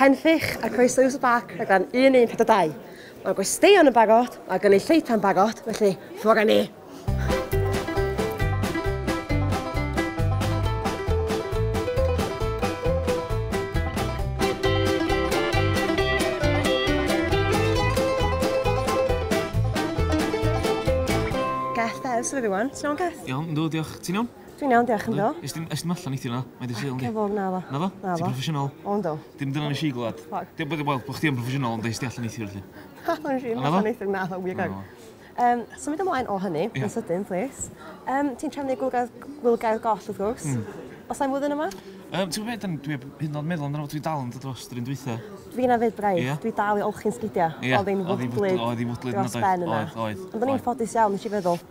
Hen Ffych, a croeso i Wso Bac, rhaglen 1142. Mae gwesteion yn barod, mae gynulleidfa'n barod, felly ffwr â ni! Geth, there's everyone. Ti'n iawn, Geth? Iawn, yndw, diolch. Ti'n iawn? Dwi'n iawn, diolch yn do. Ys dim, ys dim allan eitha na? Mae dy syl yndi? Cefog, na fo. Na fo? Na fo. Ti'n professional? O, ynddo. Dim dyna nes i glwad. Dim bod, wel, bod chdi yn professional ond ys di allan eitha felly. Na, nes i allan eitha, na fo, wir gag. Um, symud ymlaen o hynny, yeah. yn sydyn, please. Um, ti'n trefnu gwylgaidd, gwylgaidd goll, wrth gwrs. Mm. Os am flwyddyn yma? Um, ti'n gwybod, dwi hyn yn meddwl amdano fo, dwi dal yn dod dros drin dwytha. Fi yna fyd braidd, yeah. dwi dal i olchi'n sgidiau. Yeah. Oedd hi'n fwdlyd dros ben yna. Oedd, oedd. Ond o'n i'n ffodus iawn, nes i feddwl.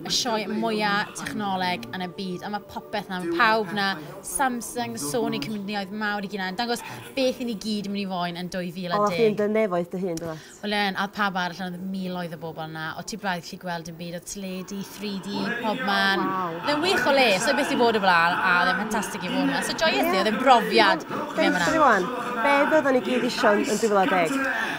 y sioe mwya technoleg yn y byd, a mae popeth na, mae pawb na, Samsung, Sony, cymrydnioedd mawr i gynau, yn dangos beth i ni gyd yn mynd i foen yn 2010. O, chi'n dy nefoedd dy hun, dwyt? Wel, yn, a oedd pawb arall, ond oedd miloedd o bobl yna, o ti braidd gallu gweld yn byd, oedd teledu, 3D, pob man. Wow. Oedd e'n wych o le, so beth i fod o blaen, a oedd e'n ffantastig i fod yma. So joyous yeah. oedd e'n brofiad. Dweud ti rwan, be byddwn ni gyd eisiau yn 2010?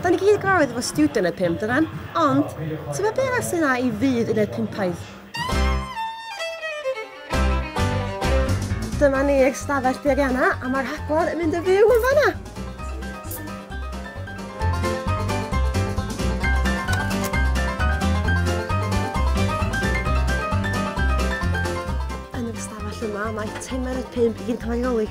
Da ni gyd gwraidd efo stiwdio uned pump dydan? Ond, tybed be arall sy'n dda i fyd uned pumpaidd? Dyma ni eich stafell beirianna a mae'r rhaglen yn mynd yn fyw yn fanna! Yn yr ystafell yma mae timer y pump i gyd yn cael ei reoli.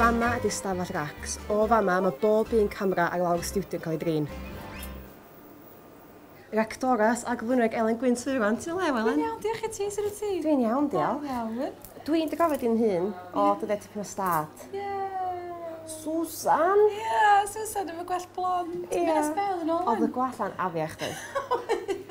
Fama ydi stafell racs. O fama mae bob un camera ar lawr y stiwdio yn cael ei drin. Yr actores a gyflwynwraig Elen Gwyn Turan. Ti'n o le Elen? Dwi'n iawn, diolch i ti, sut wyt ti? Dwi'n iawn, diolch. Da iawn. Dwi'n dy gofio di'n hun o dyddiau tipyn o stad. Ie! Susan! Ie, Susan efo gwallt blond. Ie. Ti'n mynd â sbel yn ôl 'wan. Oedd y gwallt 'na'n afiach doedd? Oedd.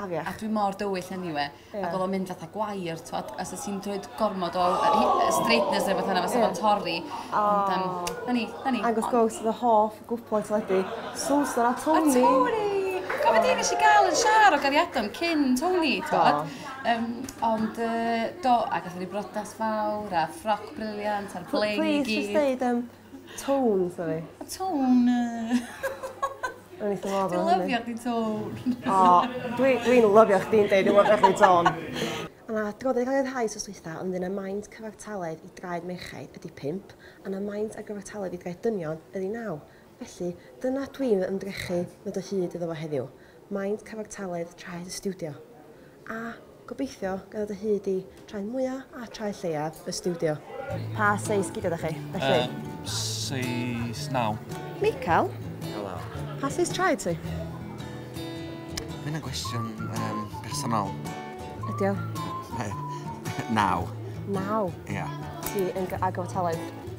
Afiach. A dwi mor dywyll anyway. Yeah. Ac oedd o'n mynd fatha gwair, twod, os oes ti'n dweud gormod o straightness neu beth yna, fysa yeah. fo'n torri. Oh. Ond, um, na ni, na ni. Angus Ghost, the hoff gwpl teledu. Susan a Tony. A Tony! Gofod oh. i nes i gael yn siar o gariadon cyn Tony, twod. Um, ond, uh, do, ac oedd ni brodas fawr, a ffroc briliant, a'r blaen i gyd. Please, just dweud, um, Tone, sorry. A tone. O'n i ddim Dwi'n lyfio chdi tone. O, dwi'n dwi lyfio chdi'n deud dwi'n lyfio chdi tone. A na, dwi'n gwybod yn cael ei rhai sos weitha, ond yna maint cyfartaledd i draed merchaid ydy 5, a na maint ar gyfartaledd i draed dynion ydy 9. Felly, dyna dwi'n fy ymdrechu ddod o hyd iddo fo heddiw. Maent cyfartaledd traed y stiwdio, a gobeithio ganddo dy hyd i, traed mwya a traed lleiaf y stiwdio. Pa seis gidia da chi, felly? Yy, seis naw. Michael? Helo. Pa seis traed ti? Mae hynna'n gwestiwn um, personol. Ydi o? Naw. Naw? Ia. Ti yn ag o talent?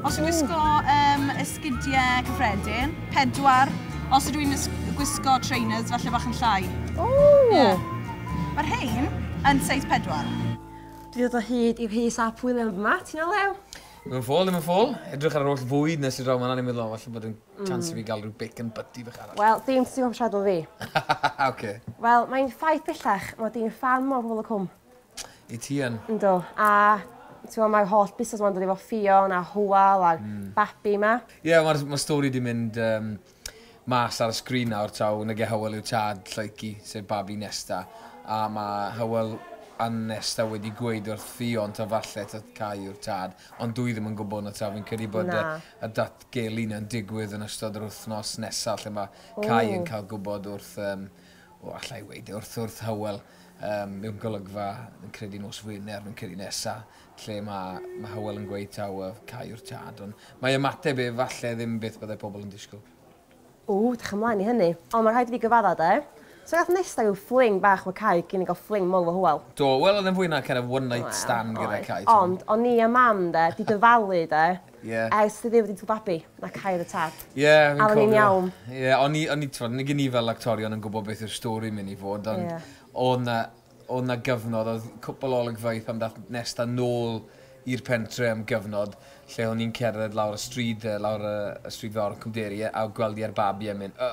Os yw'n wisgo um, esgidiau cyffredin, pedwar. Os ydw i'n gwisgo trainers, falle bach yn llai. O! Yeah. Mae'r rhain yn seis pedwar. Dwi ddod o hyd i'r hys a pwyl yn yma, ti'n o lew? Mae'n ffôl, mae'n ffôl. Edrych ar yr holl fwyd nes i draw ma'n anig meddwl, falle bod yn mm. chance i fi gael rhyw bacon butty fach arall. Wel, dim sy'n o'n siarad o fi. Oce. Wel, mae'n ffaith bellach, mae di'n fan mor hwyl y cwm. I ti yn. Yndw a t'mo' ma'r holl busnas 'ma'n dod efo Ffion a Hywel a'r babi 'ma. Ie ma'r ma'r stori 'di mynd yym mas ar y sgrin nawr taw nage Hywel yw tad Lleucu sef babi Nesta a ma' Hywel a Nesta wedi gweud wrth Ffion taw falle taw Cai yw'r tad ond dw i ddim yn gwbo nawr taw fi'n credu bod y y datgelu 'na'n digwydd yn ystod yr wythnos nesa lle ma' Cai yn ca'l gwbod wrth yym O, alla i weud e wrth wrth Hywel um, mewn golygfa, yn credu nos Wener, yn credu nesa, lle mae, mae Hywel yn gweud taw uh, cae yw'r tad, ond mae ymateb e falle ddim beth byddai pobl yn disgwyl. O, dech ymlaen i hynny. Ond mae rhaid i fi gyfadda de. So gath nesa yw fling bach fy cae cyn i gael fling mol fy Hywel. Do, wel oedd yn fwy na kind of one night stand gyda cae. Ond, o'n ni a mam de, di dyfalu de, Ie. Ers fi ddim wedi tŷ babi, na Cae yn y Tad. Ie, fi'n cofio. A o'n i'n iawn. Ie, o'n i, o'n i, t'mod, nag 'yn ni fel actorion yn gwbod beth yw'r stori myn' i fod, ond... Ie. ...odd 'na, odd 'na gyfnod, odd cwpwl o olygfeydd pan dath Nesta nôl i'r pentre am gyfnod, lle o'n i'n cerdded lawr y stryd, yy, lawr y y stryd fawr yn Cwmderi, yy, a gweld 'i a'r babi a myn' yy,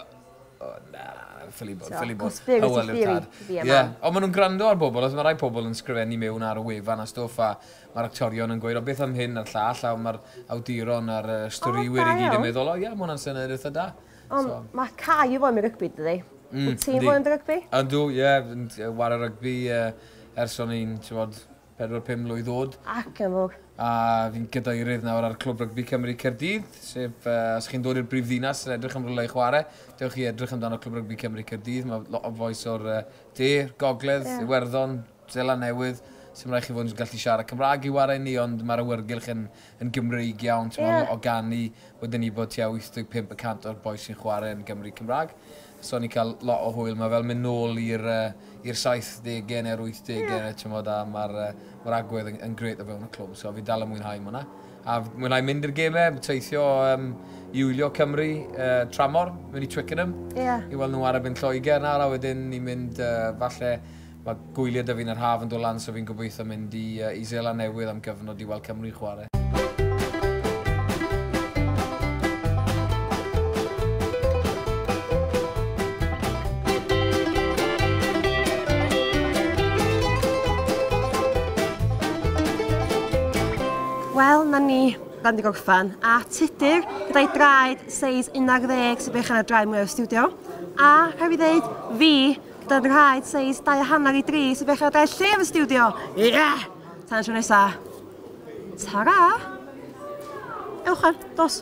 o na, ffili bod, ffili bod. T'o', cos be' wyt ti ffili? Ie. Ond ma' nw'n grando ar bobol, os ma' rai pobol yn sgrifennu miwn ar y wefan a stwff a Mae'r actorion yn gweud o beth am hyn a'r llall a mae'r awduron a'r yy storïwyr i gyd yn meddwl o ia ma' hwnna'n syniad eitha da. Ond so. ma' Cai yn foen rygbi dydi? Mm, Wyt ti'n foen rygbi? Ydw, ie, yeah, yn wario rygbi uh, ers o'n i'n, ti'n bod, 4-5 mlwydd oed. Ac yn fawr. A fi'n gadeirydd nawr ar Clwb Rygbi Cymru Cerdydd, sef, uh, os chi'n dod i'r brifddinas yn edrych am rhywle i chwarae, dewch i edrych amdano Clwb Rygbi Cymru Cerdydd, mae lot o fois o'r uh, de, gogledd, yeah. Iwerddon, Seland Newydd, sdim rhaid chi fod yn gallu siarad Cymraeg i ware ni, ond mae'r awyrgylch yn, yn Gymreig iawn, ti'n yeah. o ganu, wedyn ni bod tua 85 y cant o'r boes sy'n chwarae yn Gymru Cymraeg. So ni'n cael lot o hwyl, mae fel mynd nôl i'r uh, 70au neu'r 80au, yeah. ti'n bod, a mae'r uh, ma agwedd yn, yn gret o fewn y clwb, so fi dal yn mwynhau hwnna. A mwynhau mynd i'r gemau, teithio um, i wylio Cymru, uh, tramor, mynd i Twickenham, yeah. i weld nhw ar y byn Lloegr nawr, a wedyn ni'n mynd uh, falle Mae gwyliau da fi'n yr haf yn dod lan so fi'n gobeithio mynd i i Seland Newydd am gyfnod i weld Cymru'n chwarae. Wel, 'na ni, dan di gorffan, a Tudur gyda'i draed seis 11 sy'n bech yn y draed mwya o'r stiwdio, a rhaid fi ddeud, fi, gyda nhraed seis dau a hanner i dri sy'n dechrau gael lle yn fy stiwdio. Ie! Tan y tro nesa. Tara! Ewch ar, dos.